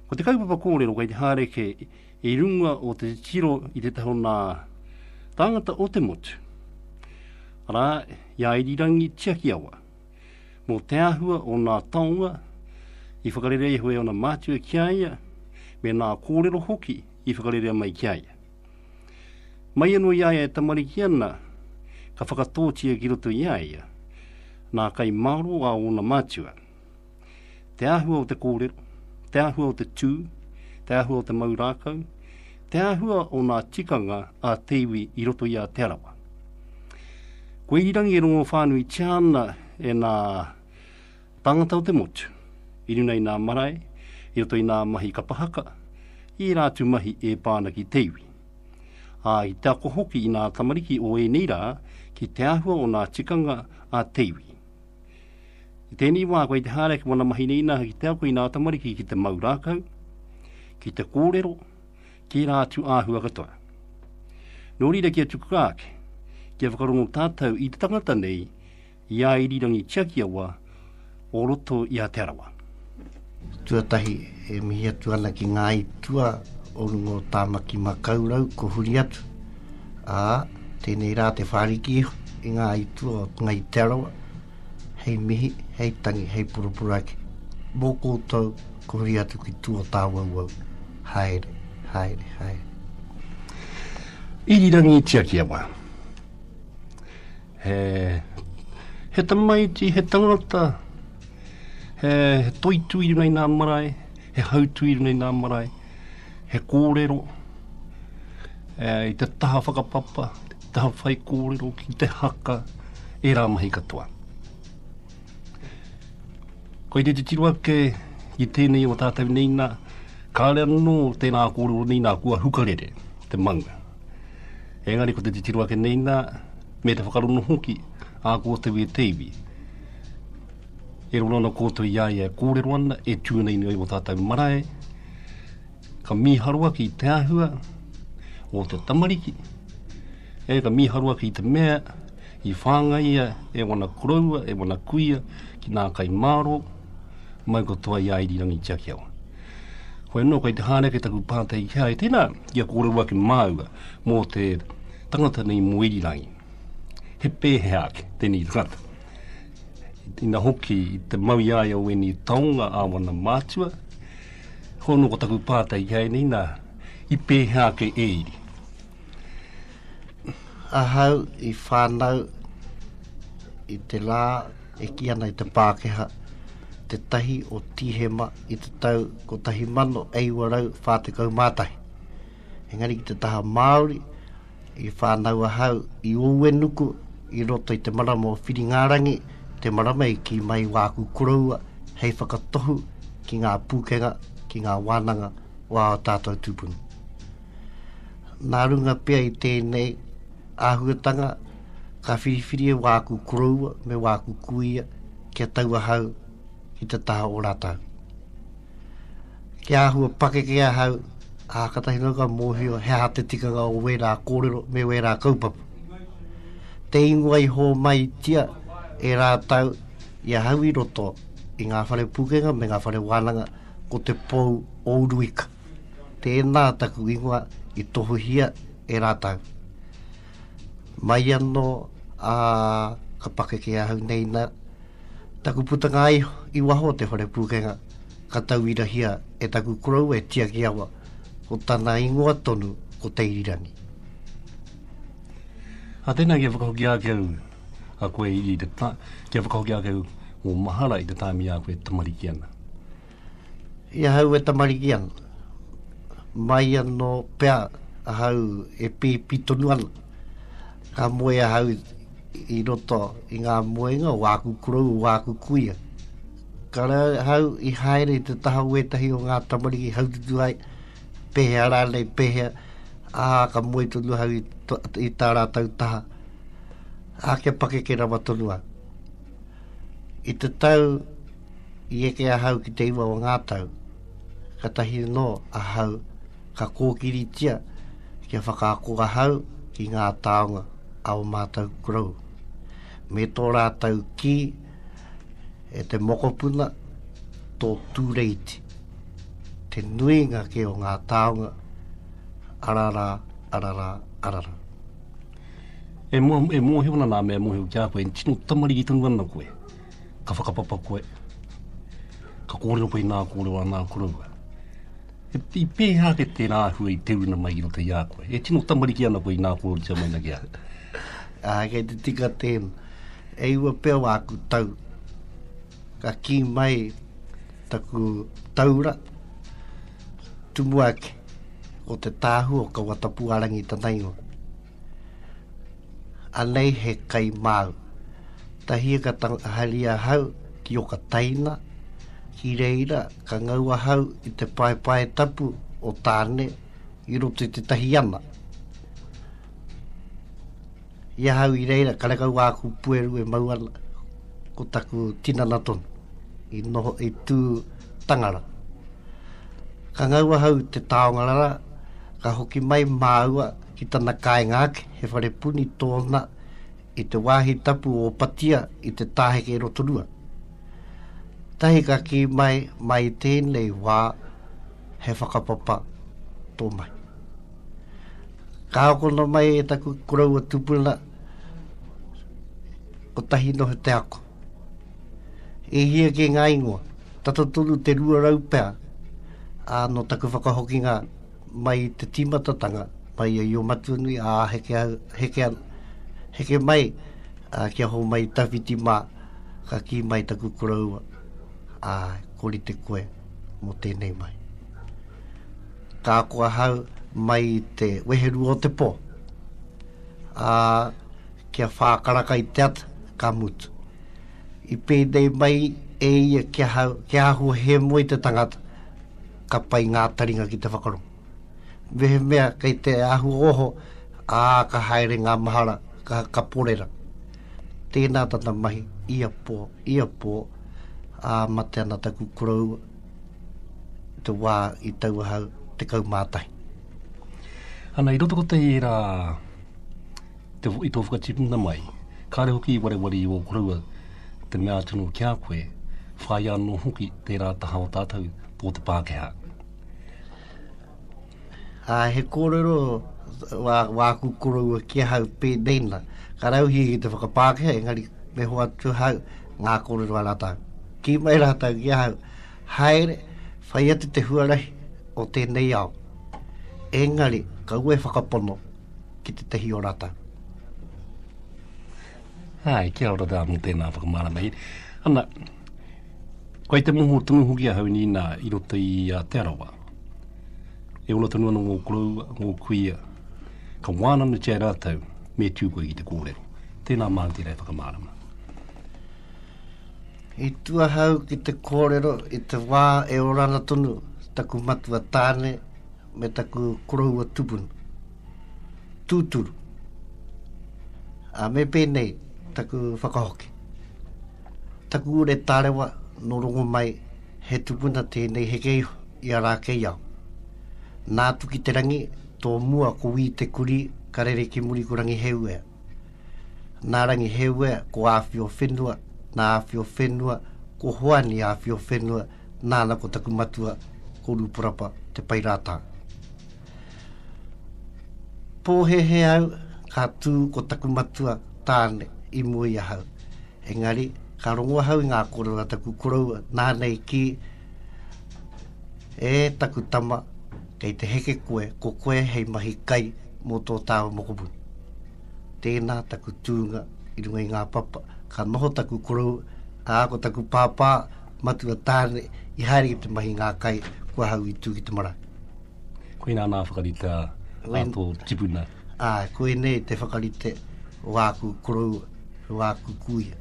Ko te kaupapa kōrero kei te haere ke i runga o te titiro i te taha o nā tāngata o te motu, arā, i a irirangi tiakiawa, mō te āhua o nā taonga i whakarerea iho e ōna mātua ki a ia, me nā kōrero hoki i whakarerea mai ki a ia. Mai anō i a ia e tamariki ana, ka whakatōtia ki roto i a ia nā kai mārō a ōna mātua. Te āhua o te kōrero, te āhua o te tū, te āhua o te mau rākau, te āhua o nā tikanga a te iwi i roto i a Te Arawa. Kua irirangi e rongowhānuitia ana e nā tāngata o te motu, i runa i nā marae, i roto i nā mahi kapa haka, i ērā atu mahi e pā ana ki te iwi. Ā, i te ako hoki i nā tamariki o ēnei rā ki te āhua o nā tikanga a te iwi. I tēnei wā, koe i te haere ki wāna mahi rīnaha ki te ako i nā tamariki ki te mau rākau, ki te kōrero, tērā atu āhua katoa. Nō reira kia tukua ake, kia whakarongo tātou i te tangata nei, i a irirangi tiakiawa o roto i a Te Arawa. Tuatahi, e mihi atu ana ki ngā itua o runga o Tāmaki Makaurau, ko huri atu. Ā, tēnei rā te whāriki iho i ngā itua o Ngai Te Arawa, hei mihi, hei tangi, hei poroporo ake. Mō koutou, ko huri atu ki Tuatāwauwau. Haere, haere, haere. Irirangi Tiakiawa. He, he tamaiti, he tangata, he, he toitū i runga i ngā marae, he hautū i runga i ngā marae, he kōrero, e, i te taha whakapapa, te taha whai kōrero, ki te haka, e rā mahi katoa. Koe te titiro ake i tēnei o tātou nei nā, kāre anō tēnā kōrero nei nā kua hukarere te manga. Engari ko te titiro ake nei nā, me te whakarongo hoki ā koutou e te iwi, e roro ana koutou i a ia e kōrero ana, e tū nei nei o tātou marae, ka mīharo ake i te āhua o te tamariki, e ka mīharo ake i te mea i whāngaia e wana koroua, e wana kuia ki nā kai māro, mau katoa i a irirangi tiaki awa. Koe nō, kei te hāreke taku pātai ki a e tēnā, I a kōrero ake māua mō te tangata nei mō irirangi, he pēhea ake tēnei tangata? Ina hoki i te mau i a ia o ēnei taonga ā wana mātua, hono ko taku pātai ki a ia nei, nā, i pēhea ake e iri? Ahau i whānau i te lā e ki ana i te Pākeha te tahi o Tīhema i te tau 1841. Engari ki te taha Māori, i whānau ahau i Ōuenuku i roto i te marama o Whiringārangi, te marama i ki mai wāku koroua hei whakatohu ki ngā pūkenga, ki ngā wānanga o ā tātou tūpuna. Nā runga pea i tēnei āhuatanga, ka whiriwhiri e wāku koroua me wāku kuia kia tau ahau ki te taha o rātau. Ki āhua pakeke ahau, a katahi nō ka mōhio he aha te tikanga o wērā kōrero me wērā kaupapa. Te ingoa i hōmai tia e rātau i ahau i roto i ngā whare pūkenga me ngā whare wānanga ko te pou o Uruika. Tēnā taku ingoa i tohuhia e rātou. Mai anō a ka pakeke ahau nei na taku putanga ai i waho o te whare pūkenga ka tauirahia e taku korou e Tiakiawa ko tana ingoa tonu ko Teirirangi. A tēnā kia whakahoki ake au a koe i te ta, kia whakahoki ake au o mahara i te tāmi a koe tamariki ana. I ahau e tamariki ana, mai anō pea ahau e pēpi tonu ana, ka moe ahau i roto i ngā moenga o āku korou, o āku kuia. Ka rā ahau i haere i te taha o ētahi o ngā tamariki haututu ai, pēhea rānei, pēhea, ā, ka moe tonu ahau i, to, i tā rātou taha, ā, kia pakeke rawa tonu ahau. I te tau i eke ahau ki te iwa o ngā tau, ka tahi anō ahau ka kōkiritia kia whakaako ahau ki ngā taonga a o mātou kurou. Me tō rātou kī e te mokopuna tō tūreiti, te nuinga kē o ngā taonga, ararā, ararā, ararā. E mōhio ana nā mea mōhio ki a koe, tino tamariki tonu ana koe, ka whakapapa koe, ka kōrero koe i nā kōrero a nā koroua. I pēhea ake tērā āhua i te runa mai i roto i a koe? E tino tamariki ana koe i nā kōrero tia mai na ki a koe? Ah, kei te tika tēnā. E iwa pea wā aku tau. Ka kī mai taku taura, Tumuaki, o te tāhū o Kawatapuarangi tana ingoa. Anei he kai māu. Tahie ka tangaharia ahau ki Okataina, ki reira ka ngau ahau i te paepae tapu o Tāne i roto i te tahi ana. I ahau i reira, karekau āku pueru e mau ana, ko taku tinana tonu, i noho, i tū tangara. Ka ngau ahau te taonga rara, ka hoki mai māua ki tana kāinga ake, he whare puni tōna i te wāhi tapu o Patia i te Tāheke Rotorua. Tahi ka kī mai, mai i tēnei wā, he whakapapa tō mahi. Ka akona mai e taku koroua tupuna, ko tahi noho te ako. E hia ke ngā ingoa, tata tonu te rua rau pea, a no taku whakahokinga mai te tīmatatanga, mai a Io Matunui, a heke, heke, heke mai, a kia ho mai tawhiti mā, ka ki mai taku koroua. Ai. Ko rite koe mo tenei mai. Ka ako ahau mai i te weherua o te po, a kia whākaraka i te ata, ka mutu. I pēnei mai e ia ki ahau, kia ahua he moe te tangata, ka pai ngā taringa ki te whakarongo. Mehemea kei te ahu oho, ā, ka haere ngā mahara, ka, ka porera. Tēnā tana mahi, ia pō, ia pō, ā, mate ana taku koroua, te wā i tau ahau, te kaumātahi. Ana, i roto kotahi ērā, te, i tō whakatipuna mai, kāre hoki i wareware i ō koroua, te mea atu nō ki a koe, whāia anō hoki tērā taha o tātou, tō te Pākehā. Ā, he kōrero wā, wāku koroua ki ahau pēnei na, ka rauhia ki te whakapākehā, engari me hoa atu ahau ngā kōrero a rātau. Ki mai rātau ki ahau, haere, whai atu te huarahi o tēnei ao. Engari, kaua e whakapono ki te tehi o rātau. Hai, kia ora tāna, tēnā whakamārama. Ana, Kai te moho tonu hoki ahau, nina, i roto i a Te Arawa. E ora tonu ana ngō koroua, ngō kuia, ka wānanatia e rātou, me tū koe ki te kōrero. Tēnā māu tērā e whakamārama. I tu ahau ki te kōrero i te wā e orana tonu taku matua tāne me taku koroua tupunu. Tūturu. A me pēnei taku whakahoki. Taku ure tārewa nō Rongomai he tupuna tēnei heke iho i a Rākeiao. Nā Tukiterangi tō mua ko Wī Te Kurī ka rere ki muri ko Rangiheuea. Nā Rangiheuea ko Āwhio Whenua, nā Āwhio Whenua ko Hoani Āwhio Whenua, nāna ko taku matua ko Rūporapa Te Pae Rātā. Pōhēhē au, ka tū ko taku matua tāne i mua i ahau. Engari, ka rongo ahau i ngā kōrero a taku koroua, nāna i kī, E taku tama, kei te heke koe, ko koe hei mahi kai mō tō tāua mokopuni. Tēnā taku tūnga i runga i ngā papa, ka noho taku koroua, ā, ko taku pāpā, matua tāne, i haere ki te mahi ngā kai, ko ahau i tū ki te marae. Koina nā whakarite a tō tipuna? Ā, koinei te whakarite o āku koroua, o āku kuia.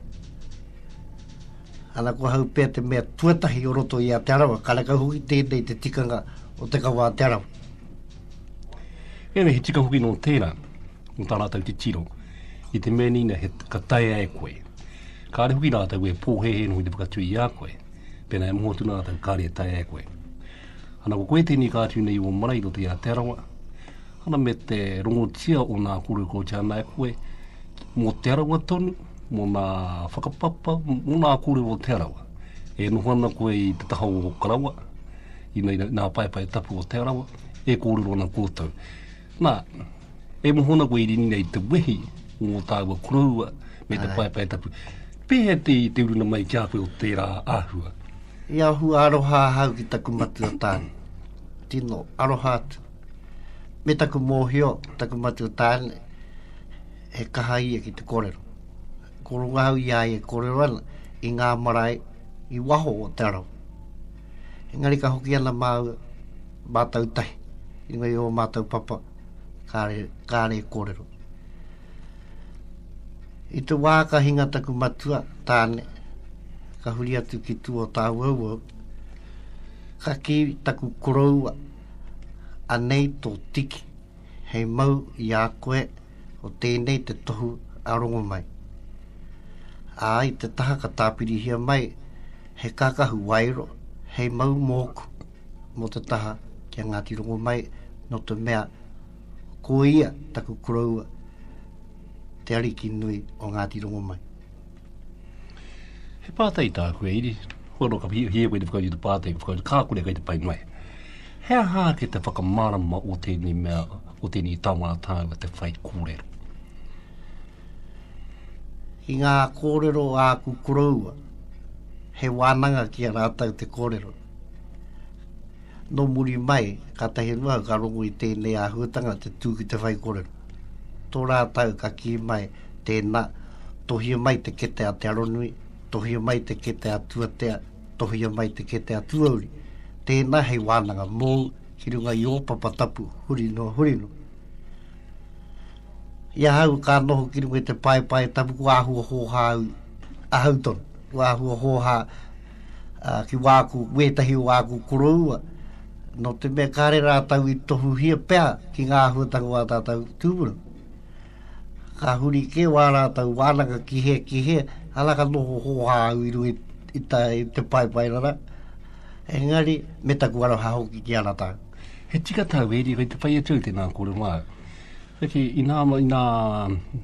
Ana ko ahau pea te mea tuatahi o roto i a Te Arawa, karekau hoki tēnei te tikanga o te kawa a Te Arawa. Ēnei he tika hoki nō tērā, nō tā rātou titiro, i te mea nīna he ka taea e koe. Kāre hoki rātou e pōhēhē noho i te whakatui i a koe, pēnā e moho atu rātou kāre e taea e koe. Ana ko koe tēnei ka atu nei i ō marae i roto i Aotearoa, ana me te rongotia o nā kōrero kua oti ana e koe, mō Te Arawa tonu, mō nā whakapapa, mō nā kōrero o Te Arawa. E noho ana koe i te taha o Okarawa, i nā paepae tapu o Te Arawa, e kōrero ana kōtou. Na, e moho ana koe i rini nei te wehi mo taua koroua me te paepae tapu. Pehea te te uruna mai ki a koe o tera ahua? I ahua aroha ahau ki taku matua tane. Tino aroha atu. Me taku mohio, taku matua tane, he kaha ia ki te korero. Koronga ahau i aia e korero ana i ngā marae i waho o te arawa. Engari ka hoki ana māua, Mātou tahi, inoi i o mātou papa, kāre, kāre e kōrero. I te wā ka hinga taku matua, tāne, ka huri atu ki tū o tāuauau, ka ki taku koroua, anei tō tiki, hei mau i a koe o tēnei te tohu a Rongomai. Ā, i te taha ka tāpirihia mai he kakahu waero, hei mau mōku. Mō te taha ki a Ngāti Rongomai, nō te mea ko ia taku koroua, te ariki nui o Ngāti Rongomai. He pātai tāku e Iri, hua no ka hia koe te whakautu te pātai, ka whakautu kā kore kai te pai mai. He aha ake te whakamarama o tēnei mea, o tēnei taonga a tāu a te whai kōrero? I ngā kōrero āku koroua, he wānanga ki a rātou te kōrero. Nō muri mai, kātahi noa ka rongo i tēnei āhuatanga te tū ki te whaikōrero. Tō rātau ka kī mai, tēnā, tohia mai te kete a Te Aronui, tohia mai te kete a Tuatea, tohia mai te kete a Tuauri, tēnā hei wānanga mōu ki runga i ō papa tapu huri noa huri noa. I ahau ka noho ki runga i te paepae tapu kua āhua hōhā au, ahau tonu, kua āhua hōhā ā, ki wāku, wētahi o āku koroua, nō te mea kāre rātau i tohuhia pea ki ngā āhuatanga o ā tātau tūpuna. Ka huri kē wā rātau wānanga ki he, ki he, ana ka noho hōhā au i runga i, i, ta, i te paepaerara, engari me taku aroha hoki ki ana tāu. He tika tāu, Eri, kei te whai atu au tēnā kōrero māu. Heke, inā, inā,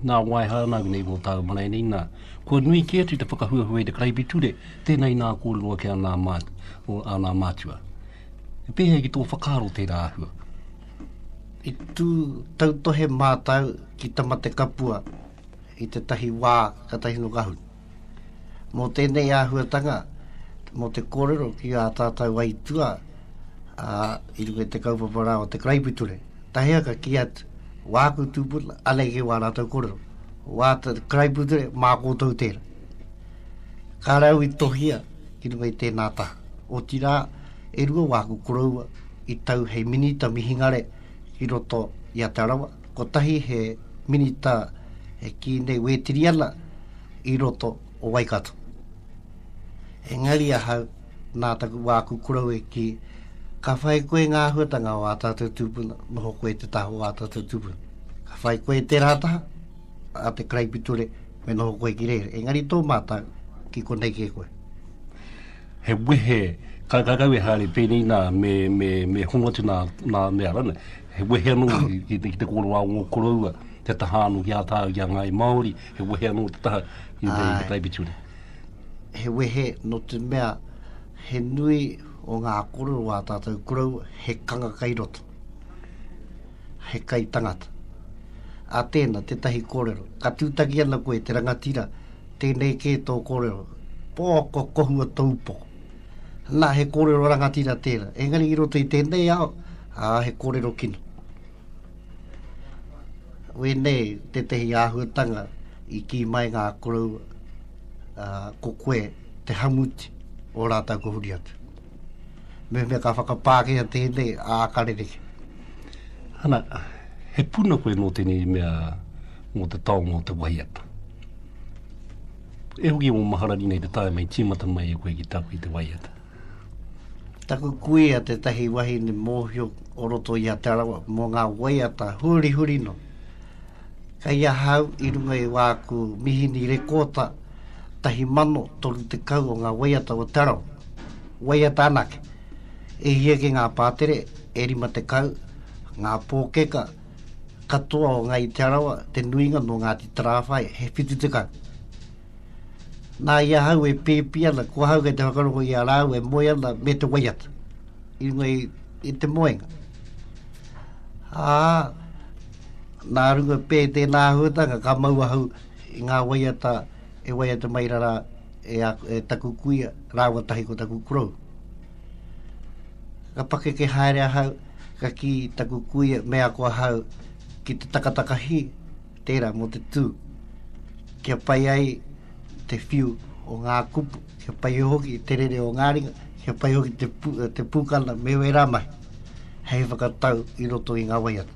nā wai haere ana au nei mō tāu marae nei, nā, kua nui kē atu te whakahuahua i te karaipiture, tēnā inā kōrero ake āna, āna mātua. E pēhea ai ki tō whakaaro tērā āhua? I tū tautohe mātau ki Tamatekapua i tētahi wā katahi no Gahun. Mō tēnei āhuatanga, mō te kōrero ki ā tātou aitua ā, i runga te kaupapa rā o te karaipiture. Tahiaka ki atu, wāku tūpuna, anei kei wā rātou kōrero. Wā te karaipiture, mā kōtou tēra. Ka rau i tohia ki runga i tēnā taha. Otirā, e rua wāku koroua i tau hei minita mihingare ki roto i a Te Arawa, kotahi he minita e kī nei wētiri ana i roto o Waikato. Engari ahau, nā taku wā aku korou e kī, ka whai koe ngā āhuatanga o ā tātou tūpuna, noho koe te taha o ā tātou tūpuna. Ka whai koe te rātaha a te karaipiture, me noho koe ki reira. Engari tō mātau, ki konei kē koe. he wehe karekau e haere pēnei nā, me, me, me hongo atu nā, nā mea rana. He wehe anō ki, ki, te, ki te kōrero a ngō koroua, te taha anō ki a tāu, ki a ngāi Māori, he wehe anō te taha ki te, ki te taipiture. He wehe no te mea, he nui o ngā kōrero a tātou koroua, he kanga kai roto. He kai tangata. A tēna, tētahi kōrero, ka tūtaki ana koe te rangatira, Tēnei kē tō kōrero. Pō, kua kohua tōu pō. Nā, he kōrero rangatira tērā. Engari i roto i tēnei ao, ā, he kōrero kino. Wēnei tētehi āhuatanga i kī mai ngā koroua, ā, ko koe te hamuti o rātou ko Huriata. Mehemea ka whakapākehia tēnei ā karereke. Ana, he puna koe mō tēnei mea mō te taonga o te waiata. E hoki o Maharani nei te taenga i tīmata mai e koe ki tāku i te waiata. Taku kuia tētahi wahine mōhio o roto i a Te Arawa mō ngā waiata hurihuri no. Kei ahau i runga i wāku mihini rekōta tahi mano toru tekau o ngā waiata o Te Arawa. Waiata anake, e hia ki ngā pātere e rima tekau, ngā pōkeka katoa o Ngāi Te Arawa, te nuinga nō Ngāti Tarāwhai, he whitu tekau. Nā i ahau e pēpi ana, ko ahau kei te whakarongo i a rāua e moe ana me te waiata, i runga i, i te moenga. Ā, Nā runga pē tēnā āhuatanga ka mau ahau i ngā waiata e waiata mai rara e, a, e taku kuia rāua tahi ko taku korou. Ka pakeke haere ahau, ka ki taku kuia me ako ahau ki te takataka hi, tērā mō te tū. Kia pai ai te whiu o ngā kupu, kia pai hoki te rere o ngā ringa, kia pai hoki te, pu, te pūkana me wērā mahi, hei whakatau i roto i ngā waiata.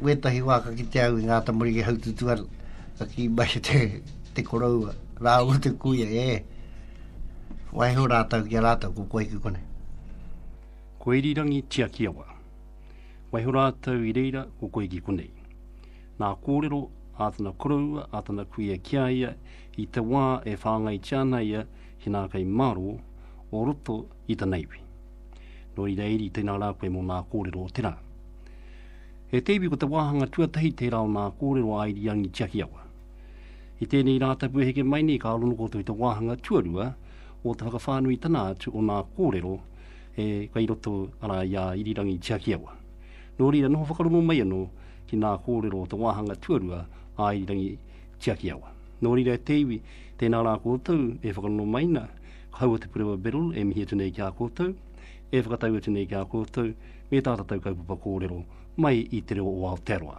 wētahi wā ka kite au i ngā tamariki haututu ana, ka kī mai te, te koroua, rāua te kuia, e, waiho rātau ki a rātau, ko koe ki kone. Ko Irirangi Tiakiawa. Waiho rātau i reira, ko koe ki konei. Nā kōrero a tana koroua, a tana kuia ki a ia, i te wā e whāngaitia ana ia ki nā kai mārō o roto i tana iwi. Nō reira Iri, tēnā rā koe mō nā kōrero o te rā. He teiwi ko te wāhanga tuatahi tērā o nā kōrero a Irirangi Tiakiawa. I tēnei Rātapu e heke mai nei ka rongo koutou i te wāhanga tuarua o te whakawhānui tana atu o nā kōrero e kei roto arā i a Irirangi Tiakiawa. Nō reira noho whakarongo mai anō ki nā kōrero o te wāhanga tuarua a Irirangi Tiakiawa. Nō reira e te iwi, tēnā rā koutou e whakarongo mai na, kaua te Purewa Beryl e mihi atu nei ki a koutou, e whakatau atu nei ki a koutou, me tā tātou kaupapa kōrero mai i te reo o Aotearoa.